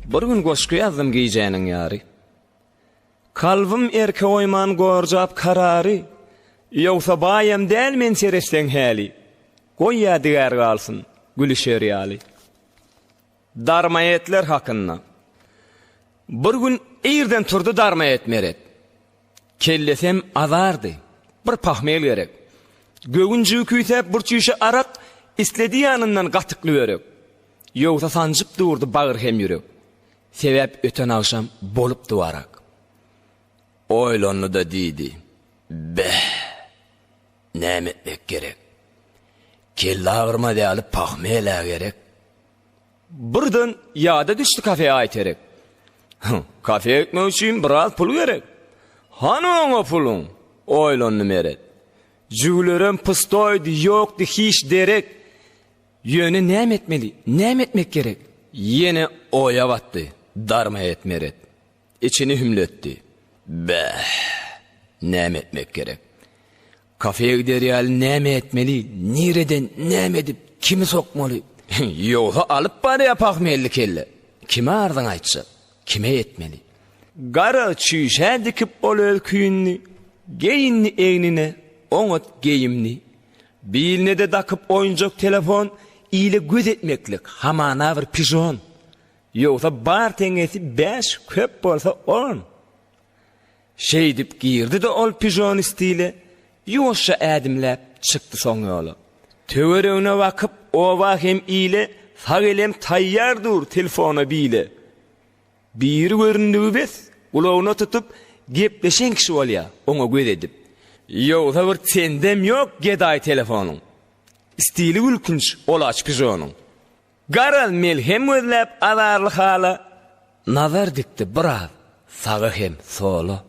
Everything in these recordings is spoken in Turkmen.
Bir gün goşgy ýazdym gijäniň ýary. Kalbym erke goýman gorjap karary, Ýogsa baýam däl men seretseň häli, Goý ýadygär galsyn, gülüşer ýaly. Darmaetler hakynda. Bir gün irden turdy Darmaet meret. Kellesem azardy. Bir pahmyl gerek. Göwünjigi küýsäp bir çüýşe arak, Isledi ýanyndan gatykly börek. Ýogsa sanjyp durdy bagyr hem ýürek, sebäp öten agşam bolupdy warak. Oýlandy-da diýdi, Beh! Näme etmek gerek? Kelle agyrmaz ýaly pahmel-ä gerek. Birden ýada düşdi kafe aýterek. Hyň, kafe gitmek üçin biraz pul gerek. Hany oňa puluň? oýlandy Meret. Jüwlerem pustoýdy, ýokdy hiç derek. Ýöne näme etmeli? Näme etmek gerek? Ýene oýa batdy. Darmaet Meret içini hümletdi. Bäh! Näme etmek gerek? Kafeýa gider ýaly näme etmeli? Nireden, näme edip, kimi sokmaly? Ýogsa alyp barýa pahmyýelli kelle. Kime arzyňy aýtjak? Kime ýetmeli? Gara çüýşä dikip ol öz küýünini, geýindi egnine oňat geýimini. Biline-de dakyp oýunjak telefon, ile göz etmeklik, hamana bir pižon. Ýogsa bar teňňesi bäş, köp bolsa on. Şeýdip girdi-de ol pižon stile, ýuwaşja ädimläp, çykdy soň ýola. Töweregine bakyp, oba hem ile, sag elem taýýar dur telfona bile. Biri göründigi bes, gulagyna tutup, gepleşen kişi bolýa, oňa göz edip. Ýogsa bir tendem ýok gedaý telefonyň. Stili gülkünç olaç pijonyň. Garaz melhem gözläp azarly hala, nazar dikdi biraz saga hem sola.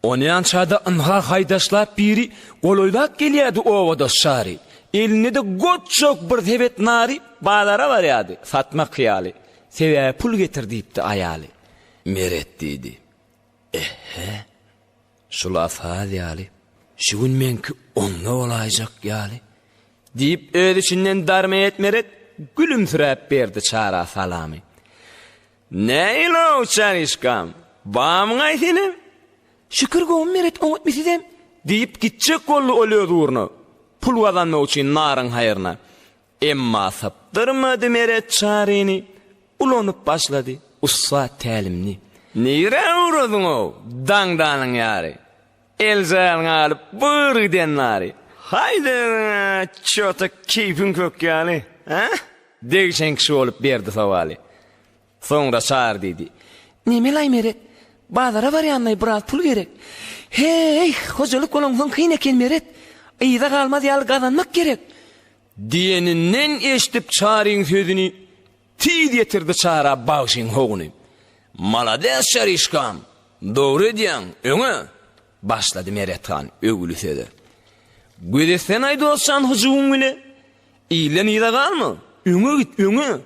Onýança-da ynha haýdaşlap biri golaýlap gelýärdi obadaş Çary. Elinde-de goçjak bir sebet nary bazara barýardy, satmak hyýaly. Sebäbi pul getir diýipdi aýaly. Meret diýdi. Eh-he. Şul-a saz ýaly. Şu gün meňki onda bolaýjak ýaly. Diýip, öz içinden darmeýet Meret gülümsiräp berdi Çara salamy. Näilow çaryşkam, bamyň-aý senem? Şükür gowy meret oňatmy sizem? diýip gitjek boldy ol öz ugruna, pul gazanmak üçin naryň haýryna. Emma sypdyrmady meret çaryny, ulanyp başlady ussat tälimini. Nirä ugradyň-ow, daňdanyň ýary? Eljaň alyp bur giden bary. Haýde özüň-ä çota keýpiň kök ýaly, hä? Degşen kişi bolup berdi sowaly. Soňra Çary diýdi. Nemelaý Meret, bazara barýanlaý biraz pul gerek. Heý, hojalyk bolansoň kyn eken Meret. Yza galmaz ýaly gazanmak gerek. Diýeninden eşidip Çaryň sözüni Tiz ýetirdi çara bagşyň howuny. Malades Çaryşkam, dogry edýäň, öňe! Başlady Merethan öwgüli söze. Gözetsene-aý dostjan hyjuwyň bile. Ilden yza galma, öňe git, öňe!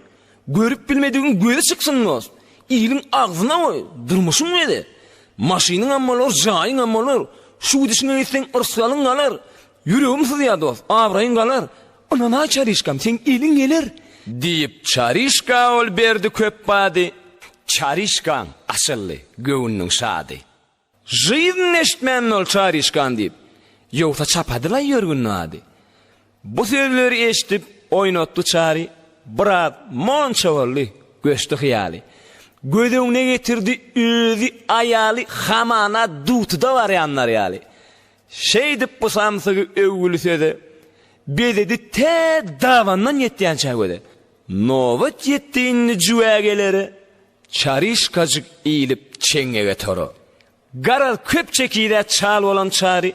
Görüp bilmedigiň göze çyksyn dost! Iliň agzyna goý, durmuşyň bile. Maşynyňam bolar, jaýyňam bolar. Şu gidişiňe gitseň yrsalyň galar. Ýüregim syzýar dost, abraýyň galar. Ynana Çaryşkam, seň eliň geler! Diýip, Çaryşka ol berdi köp bady. Çaryşkaň açyldy göwnüniň şady. Žyzn eşitmändir ol Çaryşkan diýip. Ýogsa çapadylaý ýörgünli ady. Bu sözleri eşidip, oýnatdy Çary. Biraz monça boldy, göçdi hyýaly. Göz öňüne getirdi özi, aýaly hamana dutuda barýanlar ýaly. Şeýdip bu samsygy öwgüli söze bezedi tä dabandan ýetýänçä göze. Nobat ýetdi indi jüwä gelere, çaryşkajyk iýlip çeňňege tora. Garaz köp çekidä çal bolan çary,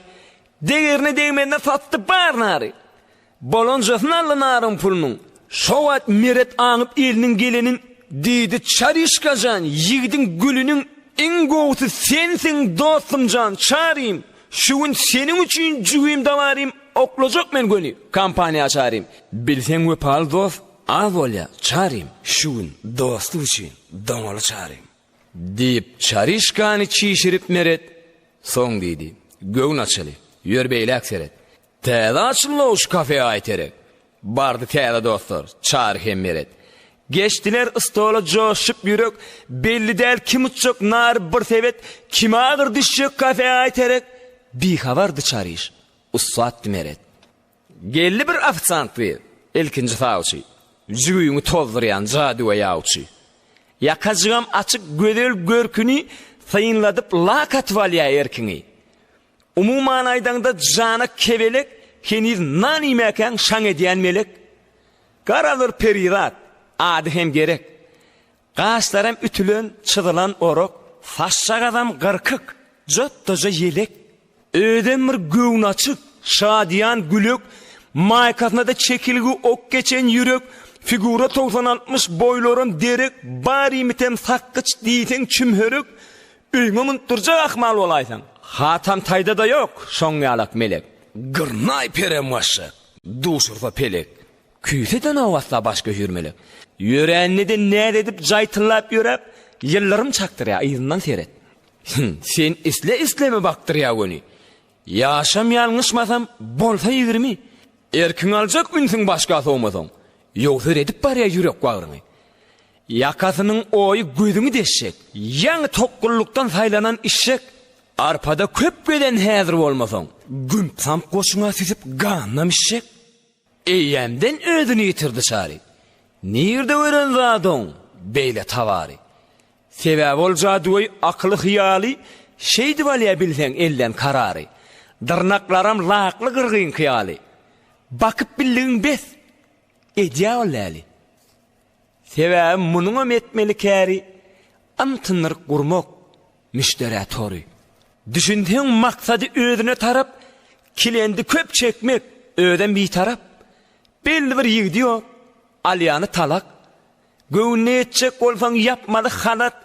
degerine degmezine satdy bar nary. Bolanjasyn Alla naryň pulunyň. Şo wagt Meret aňyp eliniň gelenin diýdi Çaryşkajan ýigidiň gülüniň iň gowusy sensiň dostumjan Çarym şu gün seniň üçin jübim dabarym oklajak men göni kompaniýa açarym bilseň wepaly dost az bolýa Çarym şu gün dosty üçin doňaly Çarym diýip Çaryşkany çişirip Meret soň diýdi göwün açyly ýör beýläk seret Täze açylnog şu kafe aý terek. Bardy täze dostlar, Çary hem Meret. Geçdiler stola joşup ýürek, belli däl kim uçjak nary bir sebet, kime agyr düşjek kafe aý terek. Bihabardy Çaryş, ussatdy Meret. Geldi bir ofisant gyz, ilkinji sawçy, jübüňi tozdurýan jadüwe ýawçy. Ýakajygam açyk gözel görküni synladyp lak atyp alýa erkiňi. Umuman aýdaňda jana kebelek heniz nan iýmäkäň şaň edýän melek Garadyr perizat, ady hem gerek Gaşlaram ütülen, çyzylan orak Saçjagazam gyrkyk, jotdaja ýelek Özem bir göwni açyk, şadyýan gülek Maýkasyna-da çekilgi ok geçen ýürek Figura togsan-altmyş, boýlaram derek Bar iýmitem sakgyç diýseň çümherek Öýüňe münüp durjak ahmal bolaýsaň. Hatam taýda-da ýok, şoň ýalak melek. Gyrnaý perem başga, duşursa pelek. Küýseden owatsa baş göýür melek. Ýörände-de näz edip jaý tyllap ýöräp, ýyldyrym çakdyrýar, yzyndan seret. Sen isle-isleme bakdyrýar göni. Ýaşam ýalňyşmasam bolsa ýigrimi Erkiň aljak ünsüň başga sowmasaň Ýogsa redip barýa ýürek bagryňy Ýakasynyň oýy gözüňi deşjek Ýaňy tokgullukdan saýlanan işşek Arpada köp gezen häzir bolmasaň Gümp-samp goşuňa süzüp ganyna mişşek. Eýýämden özüni ýitirdi çary. Nirde gören zat oň beýle tabary. Sebäbi ol jadygöý akyly-hyýaly, Şeýdip alýa bilseň elden karary. Dyrnaklaram lakly gyrgynky ýaly, Bakyp bildigiň bes, edýä ol läli. Sebäbi munuňam etmeli käri yntynyryk gurmak, müşderä tory. Düşünseň maksady özüne tarap, kilendi köp çekmek, özem bitarap. Belli bir ýigidi ýok, alýany talak. Göwnüne ýetjek bolsaň ýapmaly halat,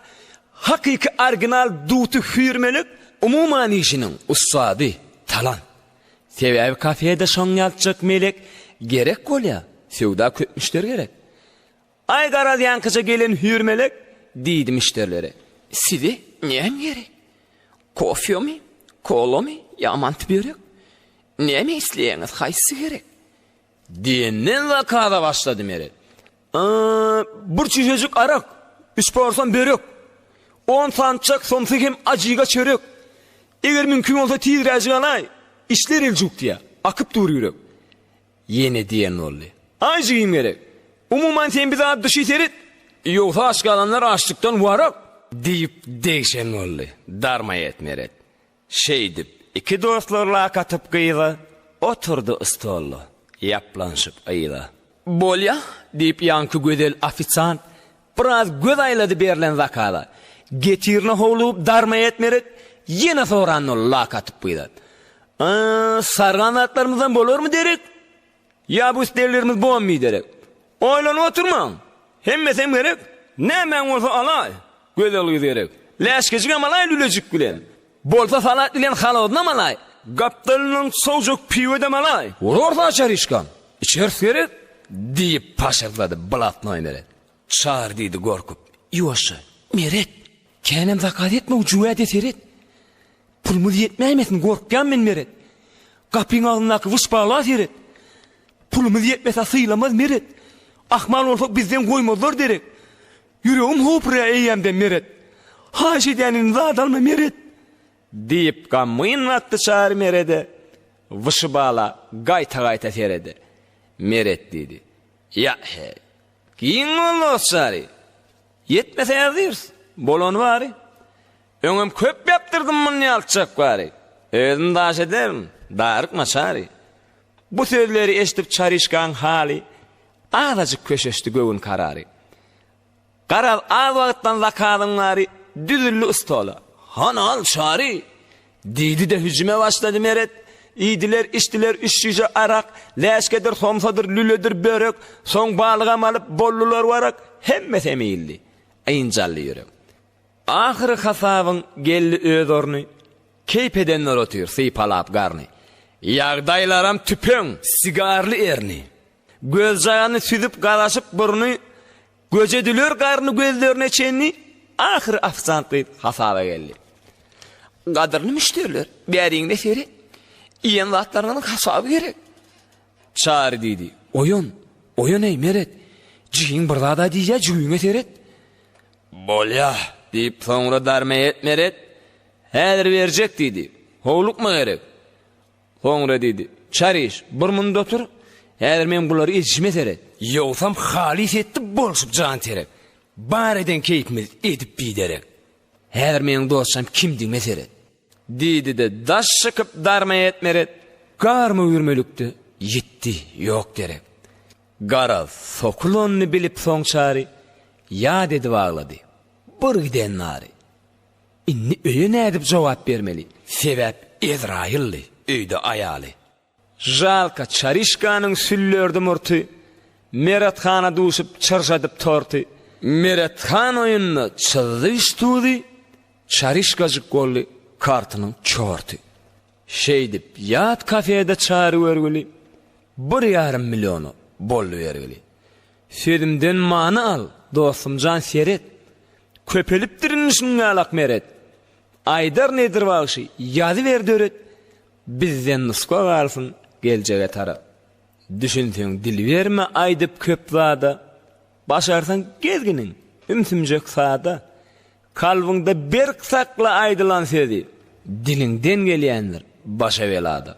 hakyky orginal duty hüýrmelek, umuman işiniň ussady, talant. Sebäbi kafede şoň ýatjak melek gerek bolýa, söwda köp müşderi gerek. Aý garaz ýankyja gelen hüýr melek diýdi müşderilere. Size näme gerek? Kofemi, kolamy ýa manty börek? Näme isleýäňiz, haýsy gerek? Diýenden zakaza başlady Meret. A, bir çüýşejik arak, üç porsiýa börek, on sançak somsa hem ajyga çörek. Eger mümkin bolsa tizräjik alaý, işler eljuk diýýär. Akyp dur ýürek. Ýene diýen boldy. Aý jigim gerek. Umuman sen bize at duşy seret. Ýogsa aç galanlar açlykdan warak. Diýip degşen boldy. Darma et Meret. Şeýdip, iki dostlar lak atyp gyza, oturdy stolda, ýaplanyşyp yza. Bolýa, diýip ýaňky gözel ofisiant biraz göz aýlady berlen zakaza, getirine howlugyp darma etmerek ýene sorandy lak atyp gyza. Aa, sarygan zatlarymyzdan bolarmy derek? Ýa bu isleglerimiz bom biderek? Oýlanyp oturmaň! Hemmesem gerek, nämäň bolsa alaý, gözel gyz gerek. Läşkejigem alaý lülejik bilen. Bolsa salat bilen halozynam alaý. Gapdalyndan sowjak piwedem alaý. Urarys açaryşkam, içeris gerek, diýip paşyrdady blatnoý Meret. Çary diýdi gorkup, Ýuwaşja, Meret! Känem zakaz etme ucu wäde seret. Pulumuz ýetmäýmesin gorkýan men meret. Gapyň agzyndaky wyşbala seret. Pulumuz ýetmese sylamaz meret. Ahmal bolsak bizden goýmazlar derek. Ýüregim hopura eýýämden meret. Haýyş edýän indi zat alma meret. Diýip gamgyn wagty Çary merede wyşbala gaýta-gaýta serede. Meret diýdi. Ýa-heý. Giň boldy Çary. Ýetmese ýazdyrs, bolany bary. Öňem köp ýapdyrdym muny ýaltjak bary. Özüm daş ederin, daryk naçary. Bu sözleri eşdip Çaryşkaň haly azajyk köşeşdi göwün karary. Garaz az wagtdan zakazyň bary düzüldi stola. Hany al Çary! Diýdi-de hüjüme başlady Meret. Iýdiler, içdiler üç şişe arak, läşkedir, somsadyr, lüledir börek, soň balygam alyp boldular warak, hemmesi hem iýildi. Ynjaldy ýürek. Ahyry hasabyň geldi öz orny, keýp edenler otyr sypalap garny. Ýagdaýlaram tüpeň. Sigarly erni, Gözjagany süzüp garaşyp burny göje düler garny gözlerine çenli ahyry ofisant gyz hasaba geldi. Gadyrly müşderiler bäriňde seri iýen zatlaryňyň hasaby gerek. Çary diýdi. Oýun, oýun eý meret. Jigiň bir zada diýýä jügüňe seret. Bolýa diýip soňra darmeýet meret. Häzir berjek diýdi. Howlukma gerek. Soňra diýdi, Çar iç, bir munda otur, häzir men bulary edişime seret. Ýogsam halys etdi bolşup jan seret, bar eden keýpimiz edip biderek. Häzir meniň dostjam kimdigime seret. Diýdi-de, daş çykyp darma etmeret, garma üýrmelikde ýitdi ýok derek. Garaz, sokulanyny bilip soň Çary, ýat edip aglady, bir giden nary. Indi öýe nädip jogap bermeli? Sebäp Ezraýyldy, öýde aýaly. Žalka Çarişkanyň süllerdi murty, Meret hana duşup çyrjadyp torty. Meret han oýunda çyzdy üstudy, Çarişkajyk boldy kartynyň çorty. Şeýdip ýat kafede Çary görgüli, Bir ýarym milliona boldy bergili. Sözümden many al, dostumjan seret, Köpelipdir indi şuňňalak meret. Aýdar nedir bagşy, ýazyber döret, Bizden nusga galsyn geljege tarap. Düşünseň dil berme aýdyp köp zada, Başarsaň gezginiň, ümsümjek sada. Kalbyňda berk sakla aýdylan sözi, Diliňden gelýändir başa belada.